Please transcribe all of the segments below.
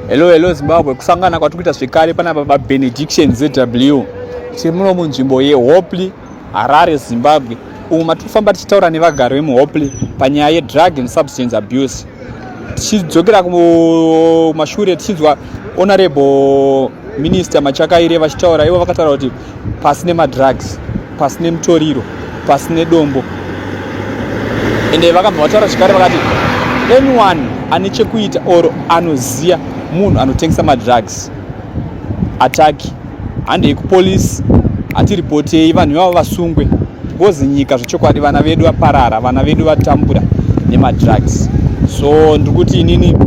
Hello hello Zimbabwe kusangana kwatikuita zvekare pana baba Benediction ZW tiri muno munzvimbo yeHopley Harare Zimbabwe umo matikufamba tichitaura nevagari vemuHopley panyaya yedrug and substance abuse tichidzokera kumashure tichinzwa honorable minister Machakaire vachitaura ivo vakataura kuti pasi nemadrugs pasi nemutoriro pasi nedombo ende vakabva vataura zvekare vakati anyone ane chekuita or anoziva munhu anotengesa madrugs ataki handei kupolisi hatiripotei vanhu ivavo vasungwe because nyika zvechokwadi vana vedu vaparara vana vedu vatambura nemadrugs so ndiri kuti inini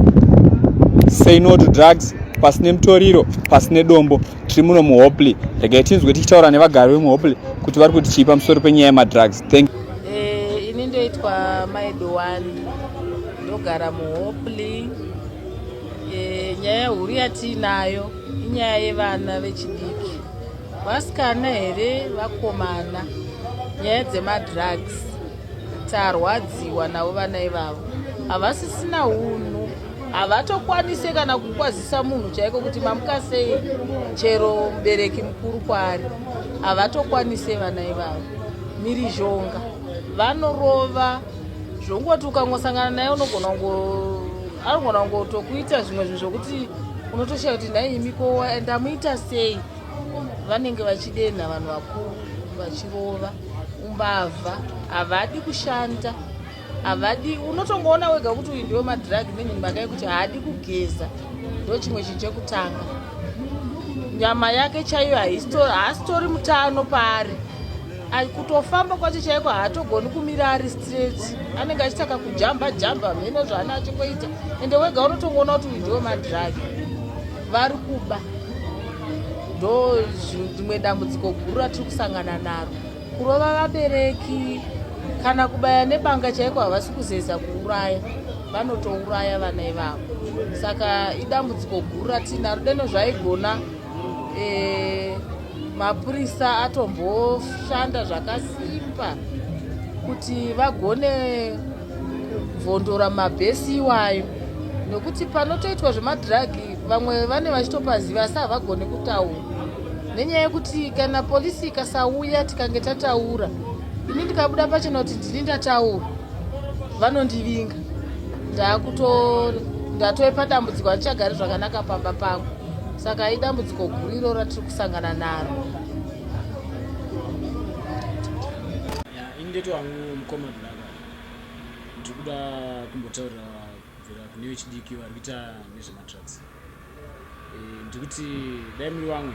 say no to drugs pasi nemutoriro pasi nedombo tiri muno muhopley regai tinzwe tichitaura nevagari vemuhopley kuti vari kuti chii pamusoro penyaya yemadrugs thank eh, ini ndoitwa maidowani ndogara muhopley eh, nyaya yehuru yatiinayo inyaya yevana vechidiki vasikana here vakomana nyaya dzemadrugs tarwadziwa navo vana ivavo havasisina hunhu havatokwanise kana kukwazisa munhu chaiko kuti mamuka sei chero mubereki mukuru kwaari havatokwanise vana ivavo mirizhonga vanorova zvongoti ukangosangana naye unogona anogona kungotokuita zvimwe zvinhu zvokuti unotoshaya kuti nhai imiko ndamuita sei vanenge vachidenha vanhu vakuru vachirova umbavha havadi kushanda havadi unotongoona wega kuti uyu ndiwe madrag nenyu mhaka yekuti haadi kugeza ndo chimwe chinhu chekutanga nyama yake chaiyo haasitori mutano paari kutofamba kwacho chaiko haatogoni kumira ari straight anenge achitaka kujamba jamba mheno zvaana achingoita ende wega unotongoona kuti uyu ndiwe madrag vari kuba ndo rimwe dambudziko guru ratiri kusangana naro kurova vabereki kana kubaya nebanga chaiko havasi kuzeza kuuraya vanotouraya vana ivavo saka idambudziko guru ratiinaro deno zvaigona e, mapurisa atomboshanda zvakasimba kuti vagone vondora mabhesi iwayo nokuti panotoitwa zvemadhiragi vamwe vane vachitopaziva asi havagone kutaura nenyaya yekuti kana polisi ikasauya tikange tataura ini ndikabuda pachena kuti ndini ndataura vanondivinga ndakuto ndatove padambudziko handichagari zvakanaka pamba pangu saka idambudziko guru iro ratiri kusangana naro yeah, ndiri kuda kumbotaurira kubvira kune vechidiki vari kuita nezvemadrugs eh, ndiri kuti dai muri vamwe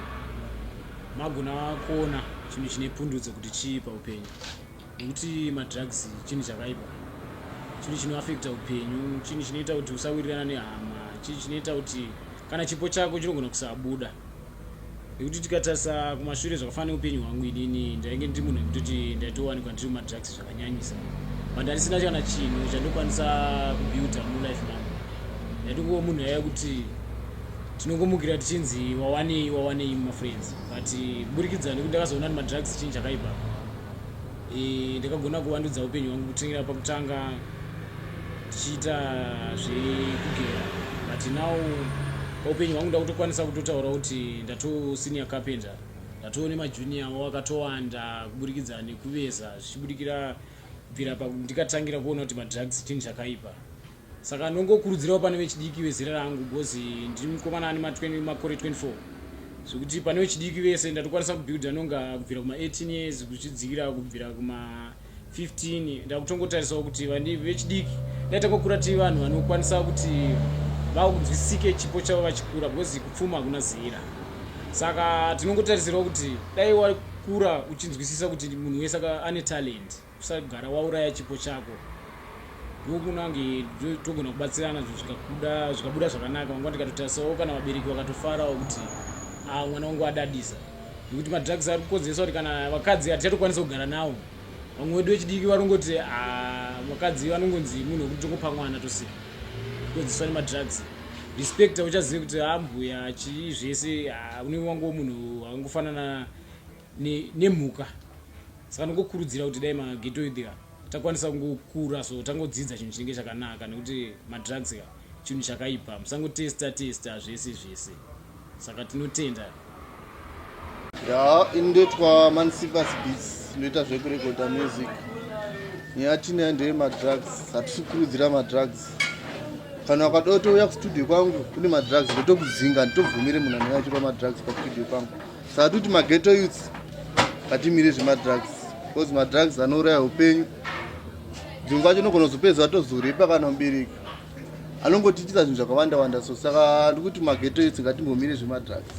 magona kuona chinhu chine pundudzo kuti chii paupenyu nekuti madrugs chinhu chakaipa chinhu chinoafekta upenyu chinhu chinoita kuti usawirirana nehama chinhu chinoita kuti kana chipo chako chinogona kusabuda nekuti tikatarisa kumashure zvakafana neupenyu hwangu inini ndainge ndiri munhu ekutoti ndaitowanikwa ndiri mumadrugs zvakanyanyisa but handisina kana chinhu chandokwanisa kubuilda mulife mangu ndaitongova munhu yaya kuti tinongomukira tichinzi wawanei wawanei mumafriends but kuburikidza nekuti ndakazoona ni madrugs chinhu chakaipa e, ndakagona kuvandudza upenyu hwangu kutangira pakutanga ndichiita zvekugera but now paupenyu hwangu ndakutokwanisa kutotaura kuti ndatosenior carpenter ndatoo nemajunior avo akatowanda kuburikidza nekuveza zvichibudikira bvira pa ndikatangira kuona kuti madrugs chinhu chakaipa Saka ndongokurudzirawo pane vechidiki vezera rangu because ndiri mukomana ane makore 24 zvekuti pane vechidiki vese ndatokwanisa kubuilda nonga kubvira kuma18 years kuzvidzikira kubvira kuma15 ndakutongotarisawo kuti vechidiki ndaitanga kukura tii vanhu vanokwanisa kuti vakunzwisisike chipo chavo vachikura because kupfuma hakuna zera saka tinongotarisirawo kuti dai wakura uchinzwisisa kuti munhu wese ane talent usagara wauraya chipo chako ndokunange togona kubatsirana zvikabuda zvikabuda zvakanaka vangwa ndikatotarisao kana vabereki vakatofarawo kuti ah, mwana wangu adadisa nekuti madrugs ari kukonzeresa kuti kana vakadzi hatichatokwanisa kugara nawo vamwe wedu vechidiki varongoti ah, vakadzi vanongonzi munhu wekuti tokupa mwana tosika kukonzeswa nemadrugs respect auchazive kuti ambuya ah, chii zvese unenge wangowo munhu angofanana nemhuka saka ndingokurudzira kuti dai magetoid ka takwanisa kungokura so tangodzidza chinhu chinenge chakanaka nekuti madrugs ka chinhu chakaipa musangotesta testa zvese zvese saka tinotenda ya indoitwa mansivas beats inoita zvekurekoda music nyaya tinayo ndeye madrugs hatisi kukurudzira madrugs kana wakada kutouya kustudio kwangu kune madrugs ndotokudzinga nditobvumire munhu anenge achipa madrugs pastudio kwangu Satuti maghetto youths hatimire zvemadrugs because madrugs anouraya upenyu dzimwe kwacho unogona kuzopedza atozorepa kana mubereki anongotiitisa zvinhu zvakawanda wanda so saka ndikuti maghetto youths ngatimbomire zvemadrugs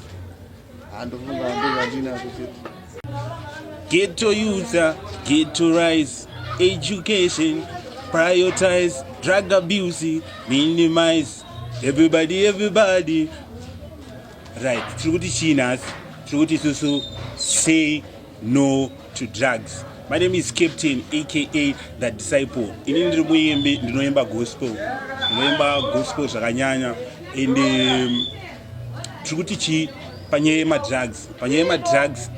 handofunga ndozvandinazo chete ghetto youth ghetto rise education prioritize drug abuse minimize everybody everybody right tiri kuti chii nhasi tiri kuti isusu say no to drugs my name is captain aka the disciple ini ndiri muimbi ndinoimba gospel ndinoimba gospel zvakanyanya and um, tiri kuti chii panyaya yemadrugs panyaya yemadrugs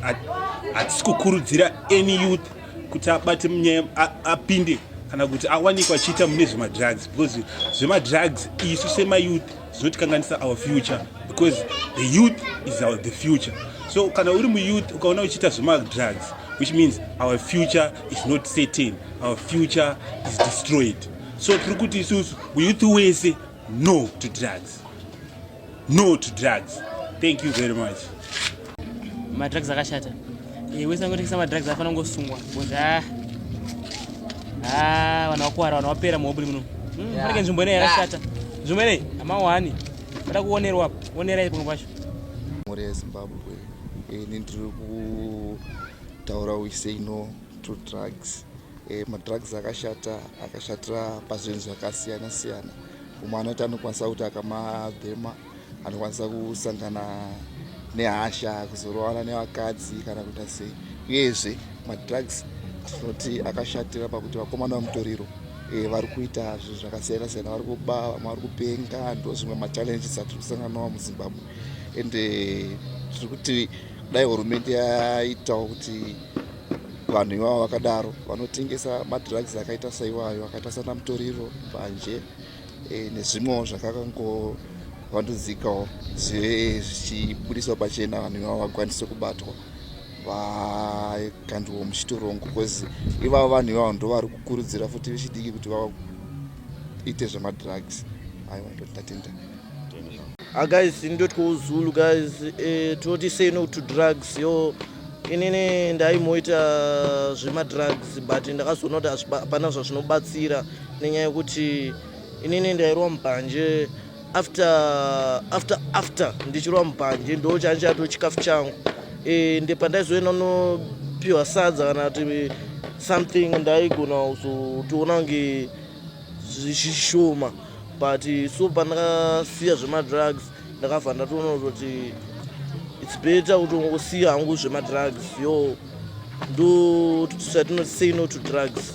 hatisi kukurudzira any youth kuti abate munyaya apinde kana kuti awanikwa achiita mune zvemadrugs because zvemadrugs isu semayouth zvinotikanganisa our future because the youth is our the future so kana uri muyouth ukaona uchiita zvemadrugs which means our future is not certain our future is destroyed so tiri kuti isusu muyouth wese no to drugs no to drugs thank you very much madrugs akashata eh, wese angotengesa madrugs afana kungosungwa bcoz ah, ah, vanhu vakuwara vanhu vapera muhoburi muno hmm, fanike nzvimbo inei yakashata nzvimbo inei amawani vada kuonerwa apo onerai pamwe pacho mhuri yezimbabwe eh, ini ndiri kutaura wiseino to drugs eh, madrugs akashata akashatira pazvinhu zvakasiyana siyana umwe anoti anokwanisa kuti akamabhema anokwanisa kusangana nehasha kuzorovana nevakadzi kana kuita sei uyezve madrugs tinoti akashatira pakuti vakomana vemutoriro eh, vari kuita zvinhu zvakasiyana siyana vari kuba vamwe vari kupenga ndo zvimwe machallenges atiri kusanganwa muzimbabwe and eh, tiri kuti kudai hurumende yaitawo kuti vanhu ivavo vakadaro vanotengesa madrugs akaita saiwayo akaita sana mutoriro mbanje e, nezvimwewo zvakakangowandudzikawo zvive zvichibudiswa pachena vanhu ivavo vakwanise kubatwa vakandiwo muchitorongo bcause ivavo vanhu ivavo ndovari kukurudzira futi vechidiki kuti vaite zvemadrugs aiwa ndotatenda ah, guys ndotya uzulu guys eh, tinoti sei no to drugs yo yeah. inini ndaimuita zvemadrugs but ndakazoona kuti hapana zvazvinobatsira nenyaya yekuti inini ndairwa mubhanje after after after ndichirwa mubhanje ndo changa chatoo chikafu changu e, ndi pandaizoenda unopiwa sadza kana kuti something ndaigona kuzotiona kunge zvishoma but so pandakasiya zvemadrugs ndakabva ndatoona kuti its better kuti ungosiya hangu zvemadrugs yo ndo tatinosay no to drugs